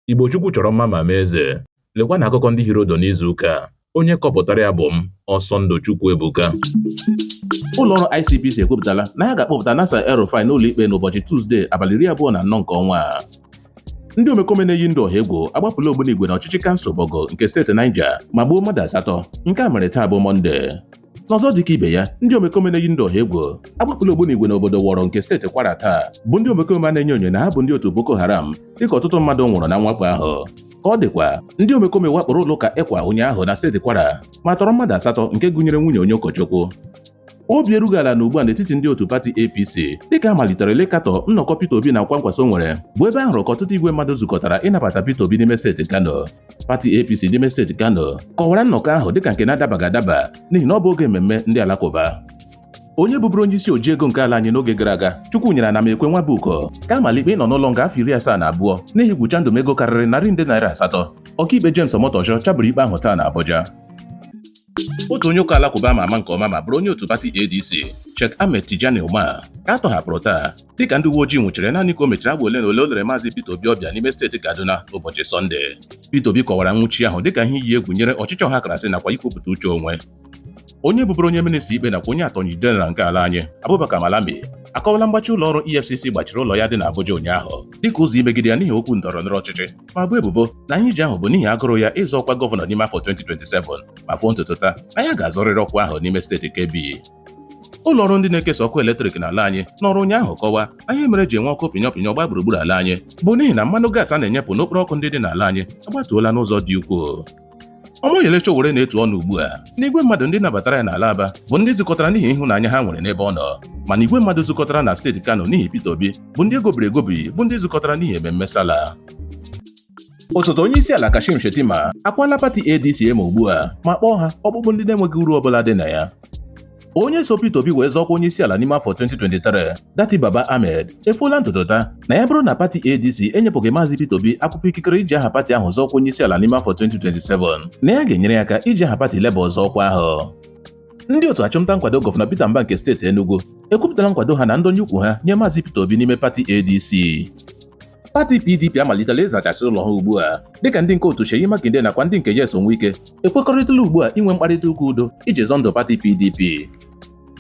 Igbo Chukwu chọrọ mma ma mee eze. Lekwa na akụkọ ndị hiri ụdụ n'izu ụka a. Onye kọpụtara ya bụ m, Ọsọndụ Chukwuebuka. Ụlọọrụ ICPC ekwupụtala na ha ga-akpọpụta Nasir El-Rufai n'ụlọikpe n'ụbọchị Tuzdee abalị iri abụọ na anọ nke ọnwa a. Ndị omekome na-eyi ndụ ọha egwu agbapụla ogbunigwe n'ọchịchị kansụl Borgu nke steeti Niger ma gbuo mmadụ asatọ. Nke a mere taa bụ Mọnde. n'ọzọ dịka ibe ya ndị omekome na-eyi ndị ọha egwu agbapụla ogbunigwe n'obodo wọrọ nke steeti kwara taa bụ ndị omekome a na-enyo enyo na ha bụ ndị otu boko haram dịka ọtụtụ mmadụ nwụrụ na mwakpo ahụ ka ọ dịkwa ndị omekome wakporo ụlọ ụka ecwa ụnyaahụ na steeti kwara ma tọrọ mmadụ asatọ nke gụnyere nwunye onye ụkọchukwu obi erughị ala na ugbu a n'etiti ndị otu pati apc dịka a maliterela ịkatọ nnọkọ peter obi na kwankwaso nwere bụ ebe a hụrụ ka ọtụtụ igwe mmadụ zukọtara ịnabata peter obi n'ime steeti kano pati APC n'ime steeti Kano kọwara nnọkọ ahụ dịka nke na-adabaghị adaba n'ihi na ọ bụ oge mmemme ndị alakụba onye bụbụrụ onye isi oji ego nke ala anyị n'oge gara aga Chukwunyere Anamekwe Nwabuoku ka a mara ikpe ịnọ n'ụlọ nga afọ iri asaa na abụọ n'ihi igwu chandum ego karịrị narị nde naira asatọ ọkaikpe James Omotosho chaburu ikpe ahụ taa na Abuja otu onye ụka alakụba a ma ama nke ọma ma bụrụ onye otu pati ADC Sheikh Ahmed Tijani Umar ka a tọhapụrụ taa dịka ndị uwe ojii nwụchiri ya naanị ka o mechara agba ole na ole o lere maazị Peter Obi ọbịa n'ime steeti Kaduna ụbọchị Sọnde Peter Obi kọwara nwụchi ahụ dịka ihe iyi egwu nyere ọchịchị ọhakrasị nakwa ikwupụta uche onwe onye bụbụrụ onye minista ikpe nakwa onye atọnyi jeneral nke ala anyị Abubakar Malami akọwala mgbachi ụlọ ọrụ EFCC gbachiri ụlọ ya dị n'Abuja ụnyaahụ dịka ụzọ imegide ya n'ihi okwu ndọrọ ndọrọ ọchịchị ma boo ebubo na nnyichi ahụ bụ n'ihi agụrụ ya ịzọ ọkwa gọvanọ n'ime afọ 2027 ma foo ntutu taa na ya ga-azọrịrị ọkwa ahụ n'ime steeti Kebbi ụlọ ọrụ ndị na-ekesa ọkụ eletrik n'ala anyị nọọrọ ụnyaahụ kọwaa na ihe mere e ji enwe ọkụ ọpịnye ọpịnyụọ gbaa gburugburu ala anyị bụ n'ihi na mmanụ gaasị a na-enyepụ n'okporo ọkụ ndị dị n'ala anyị agbatuola n'ụzọ dị ukwuu Omoyele Sowore na-etu ọnụ ugbu a na igwe mmadụ ndị nabatara ya n'ala Aba bụ ndị zukọtara n'ihi ịhụnanya ha nwere n'ebe ọ nọ mana igwe mmadụ zukọtara na steeti Kano n'ihi Peter Obi bụ ndị e gobiri egobi bụ ndị zukọtara n'ihi ememme Sallah osote onye isi ala Kashim Shettima akwaala pati ADC emo ugbu a ma kpọọ ha ọkpụkpụ ndị na-enweghị uru ọbụla dị na ya onye so Peter Obi wee zọọ ọkwa onye isi ala n'ime afọ 2023 Datti Baba-Ahmed efoola ntutu taa na ya bụrụ na pati ADC enyepụghị maazị Peter Obi akwụkwọ ikikere iji aha pati ahụ zọọ ọkwa onye isi ala n'ime afọ 2027 na ya ga-enyere ya aka iji aha pati Labour zọọ ọkwa ahụ ndị otu achụmnta nkwado gọvanọ Peter Mbah nke steeti Enugu ekwupụtala nkwado ha na ndọnye ukwu ha nye maazị Peter Obi n'ime pati ADC pati PDP amalitela ịzachasị ụlọ ha ugbu a dịka ndị nke otu Seyi Makinde nakwa ndị nke Nyesom Wike ekwekọrịtala ugbu a inwe mkparịta ụka udo iji zọ ndụ pati PDP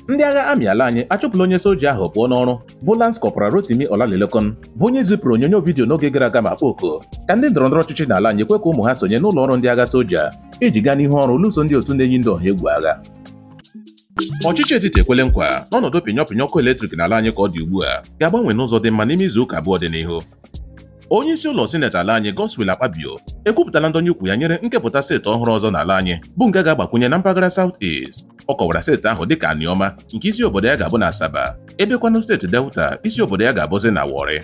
ndị agha amị ala anyị achụpụla onye soja ahụ pụọ n'ọrụ bụ Lance Corporal Rotimi Olamilekan bụ onye zipụrụ onyonyo vidiyo n'oge gara aga ma kpọọ oku ka ndị ndọrọndọrọ ọchịchị n'ala anyị kwe ka ụmụ ha sonye n'ụlọ ọrụ ndị agha soja iji gaa n'ihu ọrụ lụso ndị otu na-eyi ndị ọha egwu agha Ọchịchị etiti ekwele nkwa na ọnọdụ pịnyọ pịnyọ ọkụ eletrik n'ala anyị ka ọ dị ugbu a ga-agbanwe n'ụzọ dị mma n'ime izu ụka abụọ dị n'ihu. Onye isi ụlọ sineti ala anyị Godswill Akpabio ekwupụtala ndonye ukwu ya nyere nkepụta steeti ọhụrụ ọzọ n'ala anyị bụ nke ga-agbakwunye na mpaghara South East. Ọ kọwara steeti ahụ dịka Anioma nke isi obodo ya ga-abụ na Asaba, ebekwanụ steeti Delta isi obodo ya ga-abụzi na Warri.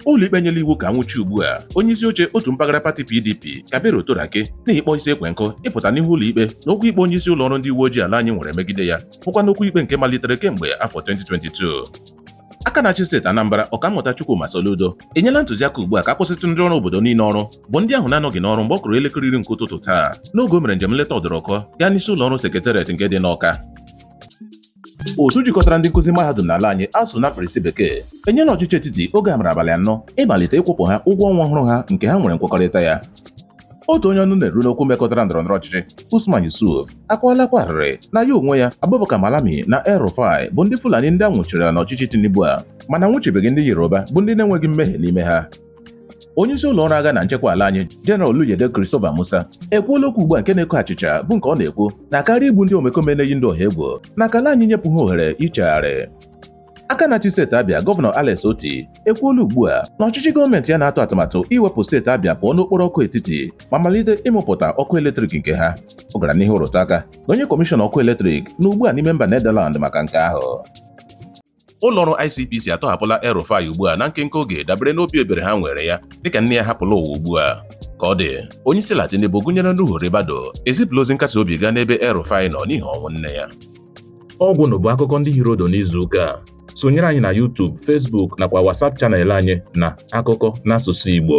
ụlọikpe nyela iwu ka anwụchie ugbu a onye isi oche otu mpaghara pati PDP Kabiru Turaki n'ihi ịkpọ isi ekwe nkụ ịpụta n'ihu ụlọikpe na okwu ikpe onye isi ụlọ ọrụ ndị uwe ojii ala anyị nwere megide ya bụkwa n'okwu ikpe nke malitere kemgbe afọ 2022 aka na-achị steeti Anambra ọkammụta Chukwuma Soludo enyela ntụziaka ugbu a ka akwụsịtụ ndị ọrụ obodo niile ọrụ bụ ndị ahụ na-anọghị n'ọrụ mgbe ọ kụrụ elekere iri nke ụtụtụ taa n'oge o mere njem nleta ọdụrụkọ gaa n'isi ụlọ ọrụ sekretariat nke dị n'Ọka otu jikọtara ndị nkụzi mahadum n'ala anyị ASUU na mkpirisi bekee enyela ọchịchị etiti oge amara abalị anọ ịmalite ịkwụpụ ha ụgwọ ọnwa ọhụrụ ha nke ha nwere nkwekọrịta ya otu onye ọnụ na-eru n'okwu mekọtara ndọrọ ndọrọ ọchịchị Usman Yusuf akwaala akwa arịrị na ya onwe ya Abubakar Malami na El Rufai bụ ndị Fulani ndị a nwụchiri n'ọchịchị Tinubu a mana a nwụchibeghị ndị Yoruba bụ ndị na-enweghị mmehie n'ime ha onye isi ụlọ ọrụ agha na nchekwa ala anyị General Oluyede Christopher Musa ekwuola okwu ugbu a nke na-eko achịcha bụ nke ọ na-ekwu na karịa igbu ndị omekome na-eyi ndụ ọha egwu na ka ala anyị nyepụ ha ohere ichegharị aka na-achị steeti Abịa gọvanọ Alex Otti ekwuola ugbu a na ọchịchị gọọmenti ya na-atụ atụmatụ iwepụ steeti Abịa pụọ n'okporo ọkụ etiti ma malite ịmụpụta ọkụ eletrik nke ha ọ gara n'ihu rụtụ aka na onye kọmishọn ọkụ eletrik nọ ugbu a n'ime mba Netherlands maka nke ahụ Ụlọọrụ ICPC atọhapụla El-Rufai ugbu a na nkenke oge dabere n'obi ebere ha nweere ya dịka nne ya hapụla ụwa ugbu a ka ọ dị onyeisiala Tinubu gụnyere Nuhu Ribadu ezipụla ozi nkasi obi gaa n'ebe El-Rufai nọ n'ihi ọnwụ nne ya ọ gwụna bụ akụkọ ndị hiri ụdụ n'izu ụka a sonyere anyị na YouTube, Facebook nakwa WhatsApp channel anyị na akụkọ n'asụsụ Igbo